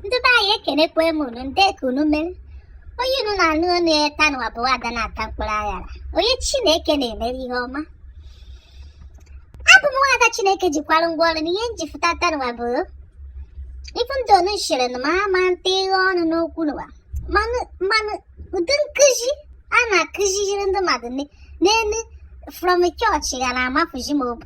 ndị be anyị ekenekwe m unu ndị ka unu mere onye unu na-anụ onu ya ta nụwa bụ ada na-ata mkpụrụ aṅara onye chineke na-emere ihe ọma abụ m nwaada chineke jikwara ngwa ọrụ na ihe m ji fụta ta nụwa bụ ịfụ ndị onu chere na ma ama nta ịghe ọnụ n'okwu nụwa mana ụdị nkụzi a na-akụziri ndị mmadụ n'elu from chọọchị ya na-amafuzi m obu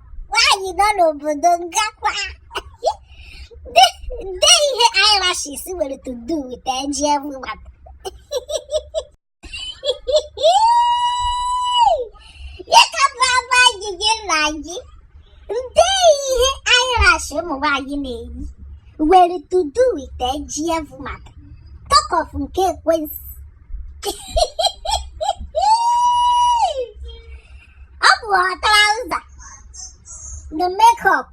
nwaanyị nọ n'obodo ngakwa nde ihe eyelashes nwere to do with eji everyone ya ka bụ agba gị gị na gị nde ihe eyelash ụmụ nwaanyị na-eyi nwere to do with eji everyone talk of nke ekwensu ọ bụ trouser the makeup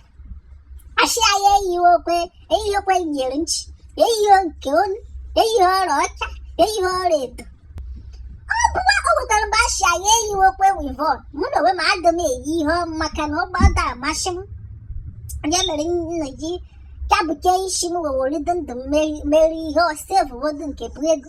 ashị anyị eyighịkwe eyighịkwe iyeri nchị eyighị nke onu eyighị ọla ọcha eyighị ọla edo ọ bụkwa o wetara mgbe ashị anyị eyighịkwe wivon mụ na onwe m adị m eyi ihe maka na ọ gbada amasị m ya mere nna ji kabuke isi m wewere dị ndụ m meri- meri ihe sevuwodu nke bụ ego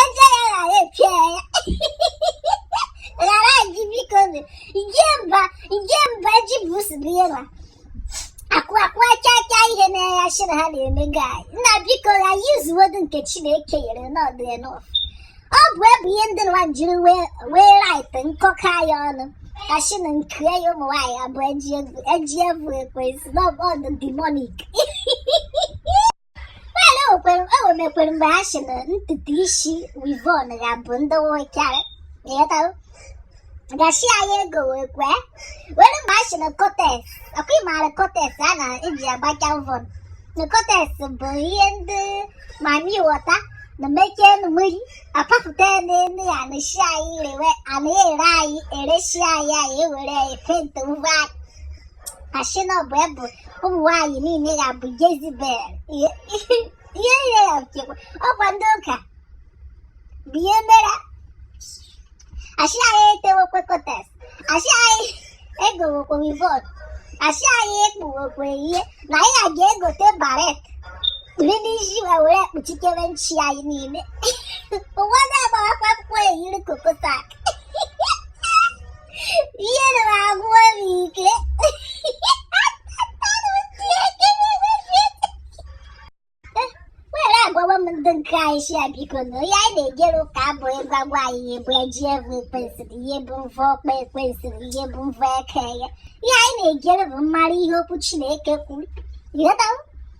Eze ya ghara epịa ya. Ghara ji biko nụ. Nje mba nje mba ji bụ nsogbu ya na. Akụ akụ acha acha ihe na-eya shi na ha na-eme gaị. Nna biko ya yuzuwodu nke Chineke nyere na ọ dụ enough. Ọ bụ ebu ihe ndị nwa jiri wee wee rait nkọka ya ọnụ. Ashị na nke ya ụmụ nwaanyị abụọ eji egwu eji egwu ekwensu na ọ bụ ọ dụ demonic. Well, o kwere o mekwere mgbe ha si na ntutu isi wivon ya bụ ndị nwoke a ịghọtawo ashị anyị egowekwe were mgbe ha si na kotes ọkwa ịmaara kotes a na-eji agbacha mvọ na kotes bụ ihe ndị mami wọta na-emechie n'ime mmiri apapụta n'elu ya na shi anyị rewe a na-ere anyị eresi anyị anyị ewere anyị penti onwe anyị asị na ọ bụ ebe ụmụ nwaanyị niile ga-abụ Jezibel ihe niile ga-abụkwa ọkwa ndị ụka bụ ihe mere asị anyị etewekwe kotes asị anyị egowekwe wivon asị anyị ekpuwekwe ihe na anyị ga-aga egote baret kpiri n'isi ma were kpuchikere nchị anyị niile ụfọdụ agbawakwa akwụkwọ eyiri kokotak sị ya bikonụ ihe anyị na-ejere ụka abụ ịgwa gwa anyị ihe bụ ejị evụ Ekwensu ihe bụ mvọ ọkpa Ekwensu ihe bụ mvọ eka ya ihe anyị na-ejere bụ ịmara ihe okwu Chineke kwuru